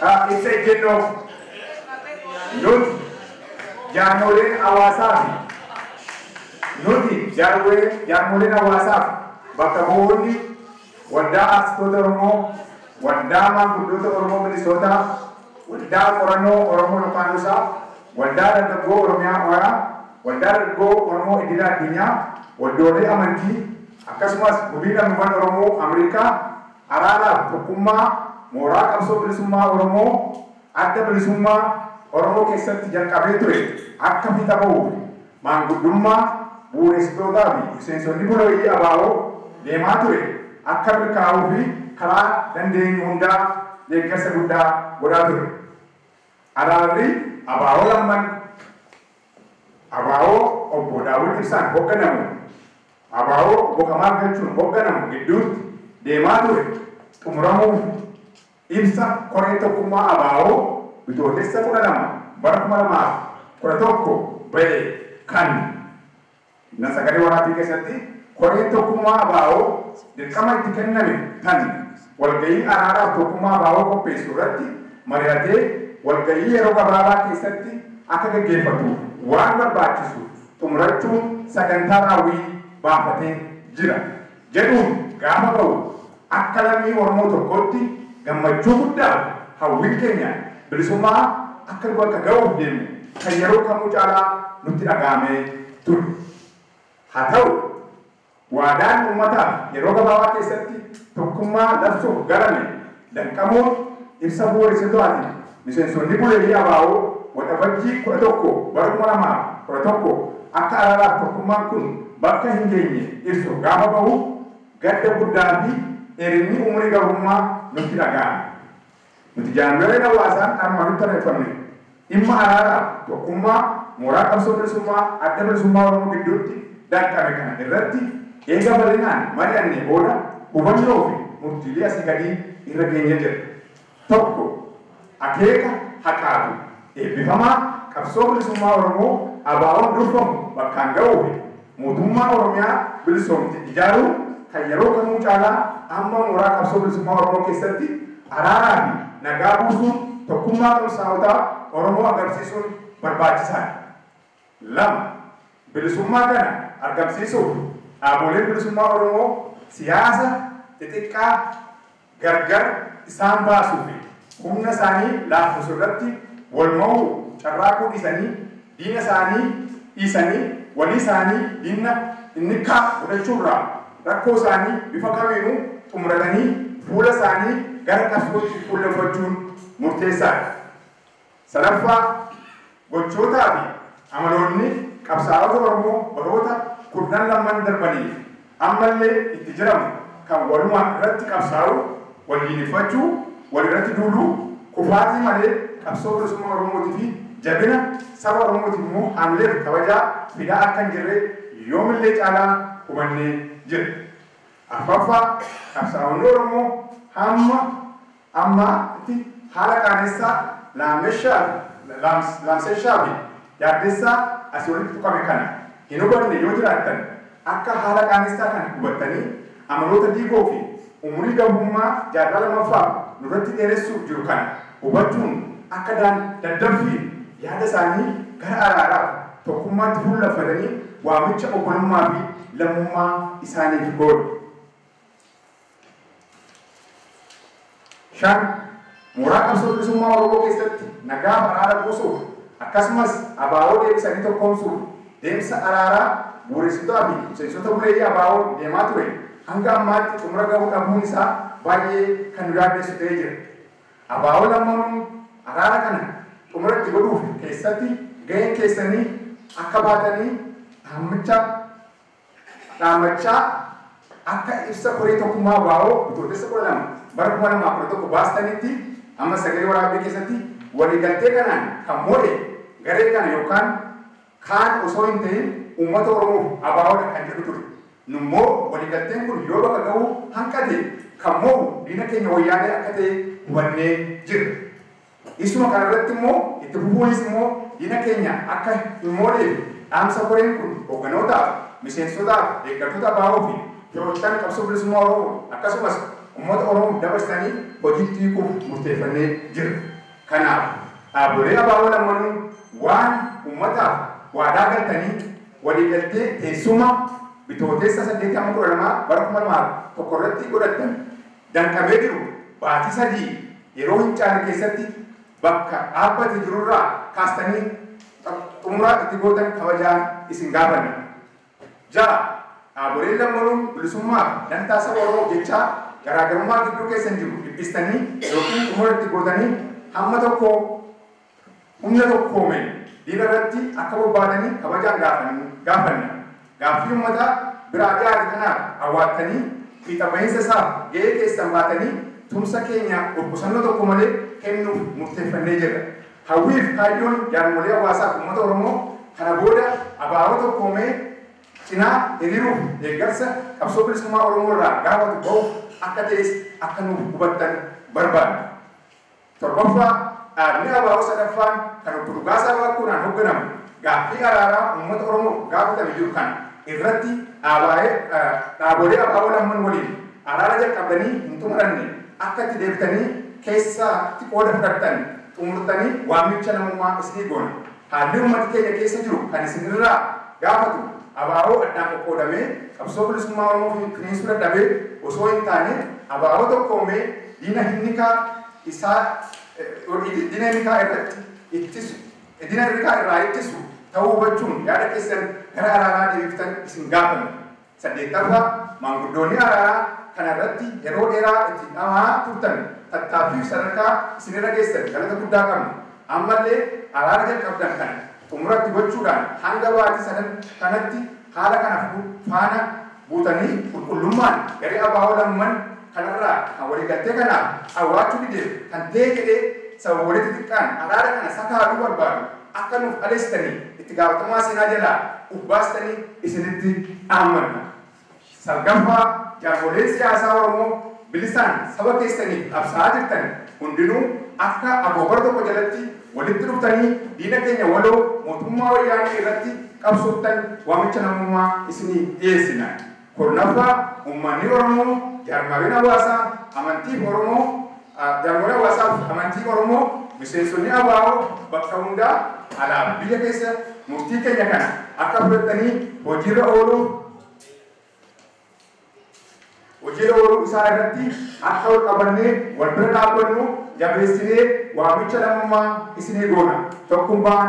a Ibsa ejjennoo Nuti jaarmooleen hawaasaa fi Nuti jaarmooleen hawaasaa fi bakka bu'oonni Waldaa Aartistoota Oromoo, Waldaa Maanguddoota Oromoo Minisootaa, Waldaa Qorannoo Oromoo Lokaanuusaa, Waldaa Dargaggoo Oromiyaa Oyaa, Waldaa Dargaggoo Oromoo Idila Addunyaa, Waldoolee Amantii, akkasumas Gumiin Lammiiwwan Oromoo Amerikaa, Araara fi tokkummaa mooraa qabsoo bilisummaa Oromoo Adda Bilisummaa Oromoo keessatti jalqabee ture akka fiixa bahuuf maanguddummaa, bu'uureessitootaa fi miseensonni bulooyii abo deemaa ture akka milkaa'uu fi karaa dandeenyu hundaa deeggarsa guddaa godhaa ture. Araarri abo lamman. Abo Obbo Daawud Ibsaan hogganamu abo Obbo Kamaal Galchuun hogganamu gidduutti deemaa ture xumuramuuf ibsa Koreen Tokkummaa abo Bitootessa 12 bara 2011 ba'e kan na sagalee waraabbii keessatti koreen tokkummaa abo dirqama itti kenname tan walgahii araaraaf tokkummaa abo qopheessu irratti mari'atee walgahii yeroo gabaabaa keessatti akka gaggeeffatuuf waan barbaachisu xumurachuun sagantaa raawwii baafatee jira. jedhuun gaafa ba'u akka lammii Oromoo tokkootti gammachuu guddaan hawwiin keenya bilisummaa akka nu bakka ga'uuf deemu kan yeroo kamuu caalaa nutti dhaga'amee ture. Haa ta'u, waadaan uummataaf yeroo gabaabaa keessatti tokkummaa labsuuf galame, Laqqamuu ibsa bu'uuressitooatiin miseensonni Buleeyii abo Waxabajjii 11 bara 2011 akka araaraaf tokkummaan kun bakka hin geenye ibsu gaafa bahu gadda guddaa fi dheerinni umurii gabrummaa nutti dhaga'ame. Nuti jaarmiyooleen hawaasaan armaan olitti tarreeffamne, Dhimma araaraa fi tokkummaa mooraa qabsoo bilisummaa Adda Bilisummaa Oromoo gidduutti danqame kana irratti eega bal'inaan mari'annee booda hubannoo fi murtiilee asii gadii irra geenye jirra. 1, Akeeka haqaa fi eebbifamaa qabsoo bilisummaa Oromoo ABOn durfamu bakkaan ga'uu fi Mootummaa Oromiyaa bilisoomte ijaaruun kan yeroo kamuu caalaa amma mooraa qabsoo bilisummaa Oromoo keessatti araaraa fi nagaa buusuun tokkummaa qabsaa'otaa Oromoo agarsiisuun barbaachisaa dha. 2, Bilisummaa kana argamsiisuuf dhaaboleen bilisummaa Oromoo siyaasa xixiqqaa, gargar isaan baasuu fi humna isaanii laaffisu irratti wal mowuu carraaquu dhiisanii diina isaanii dhiisanii walii isaanii diinna innikkaa godhachuu irraa rakkoo isaanii bifa kamiinuu xumuratanii fuula isaanii gara qabsootti fuulleffachuun murteessaa dha. Sadaffaa, gochootaa fi amaloonni qabsaa'ota Oromoo baroota kurnan lamman darbanii fi amma illee itti jiramu kan walumaan irratti qabsaa'uu, wal diineffachuu, wal irratti duuluu, kufaatii malee qabsoo bilisummaa Oromootii fi jabina saba Oromootiif immoo haamileef kabajaa fidaa akka hin jirre yoom illee caalaa hubannee jirra. Arfaffaa, qabsaa'onni Oromoo hamma Amma tti haala qaanessaa, laamsessaa, laamsessaa fi yaaddessaa asii olitti tuqame kana hin hubanne yoo jiraattan akka haala qaanessaa kana hubattanii amaloota diigoo fi umurii gabummaa jaarraa lamaffaaf nurratti dheeressuuf jiru kana hubachuun akka daddaffiin yaada isaanii gara araaraaf tokkummaatti fuullaffatanii waamicha obbolummaa fi lammummaa isaaniif goonu. 5, Mooraa Qabsoo Bilisummaa Oromoo keessatti nagaaf araara buusuuf akkasumas abo deebisanii tokkoomsuuf deemsa araaraa bu'uuressitotaa fi miseensota buleeyyii ABOn deemaa ture hanga ammaatti xumura gahuu dhabuun isaa baay'ee kan nu yaaddessu ta'ee jira. Abo lammanuu araara kana xumura itti godhuuf keessatti gahee keessanii akka baatanii dhaammacha Dhaammachaa akka ibsa koree tokkummaa wbo Bitootessa 12 bara 2011 baastanitti amma sagalee waraabbii keessatti waliigaltee kanaan kan moo'e garee kana yookaan kaan osoo hin ta'iin uummata Oromoof abo dha kan jedhu ture. Nummoo waliigalteen kun yoo bakka gahuu hanqate kan moo'u diina keenya Wayyaanee akka ta'e hubannee jirra. Dhiisuma kana irratti immoo itti fufuunis immoo diina keenya akka hin mooneef dhaamsa koreen kun hogganootaaf, miseensotaaf, deeggartoota abo fi firoottan qabsoo bilisummaa Oromoo akkasumas ummata Oromoof dabarsitanii hojiitti hiikuuf murteeffannee jirra. Kanaaf dhaabolee abo lammanuu waan ummataaf waadaa galtanii waliigaltee teessuma Bitootessa 8-12 bara 2001 irratti godhattan danqamee jiru baatii sadii yeroo hin caalle keessatti bakka dhaabbate jirurraa kaastanii xumura itti gootan kabajaan isin gaafanna. 6, Dhaaboleen lammanuun bilisummaa fi dantaa saba Oromoof jechaa garaagarummaa gidduu keessan jiru dhiphistanii ykn xumura itti gootanii hamma tokko Humna tokkoomeen diina irratti akka bobbaatanii kabajaan gaafanna. Gaaffii ummataa biraa dhiyaate kanaaf awwaattanii fiixa bahiinsa isaaf gahee keessan baatanii tumsa keenya of qusannoo tokko malee kennuuf murteeffannee jirra. Hawwii fi kaayyoon jaarmolee hawaasaa fi ummata Oromoo kana booda abo tokkoomee cinaa hiriiruuf deeggarsa qabsoo bilisummaa Oromoo irraa gaafatu bahuuf akka ta'es akka nuuf hubattan barbaanna. Torbaffaa, dhaabni abo sadaffaan kan Obbo Dhugaasaa Waaqoonaan hogganamu gaaffii araaraa uummata Oromoof gaafatame jiru kana irratti dhaabolee abo lamman waliin araara jalqabdanii hin xumuranne akka itti deebitanii keessaa tti qooda fudhattan xumurtanii waamicha namummaa isinii goona. Haalli ummati keenya keessa jiru kan isin irraa gaafatu ABO addaan qoqqoodamee qabsoo bilisummaa Oromoo finiinsuu dadhabee osoo hin taane ABO tokkoomee diina hinnikaa isaa diina hinnikaa irratti ittisu diina hinnikaa irraa ittisu ta'uu hubachuun yaada keessan gara alaabaa deebiftan isin gaafanna. 8ffaa, Maanguddoonni Araaraa kana irratti yeroo dheeraa itti dhama'aa turtan tattaaffiif sadarkaa isin irra geessan galata guddaa qabna. Amma illee araara jalqabdan kana xumura itti gochuudhaan hanga baatii sadan kanatti haala kana fudhu faana buutanii qulqullummaan garee abo lamman kanarraa kan waliigaltee kanaaf dhawwaachuu dideef kan ta'e jedhee sababoolee xixiqqaan araara kana sakaaluu barbaadu akka nuuf dhaleessitanii itti gaafatamummaa seenaa jalaa uf baastanii isinitti dhaammanna. Salgaffaa, jaarmoleen siyaasaa Oromoo bilisaan saba keessaniif qabsaa'aa jirtan hundinuu akka agoobara tokko jalatti walitti dhuftanii diina keenya waloo mootummaa Wayyaanee irratti qabsooftan waamicha namummaa isiniif dhiyeessina. Kurnaffaa, Ummanni Oromoo jaarmaaleen hawaasaa, amantiif Oromoo, jaarmaalee hawaasaa fi amantii Oromoo, miseensonni ABO bakka hundaa alaa fi biyya keessa murtii keenya kana akka fudhatanii hojiirra ooluuf hojiirra ooluu isaa irratti akka wal qabannee wal bira dhaabbannu jabeessinee waamicha lammummaa isinii goona. Tokkumbaan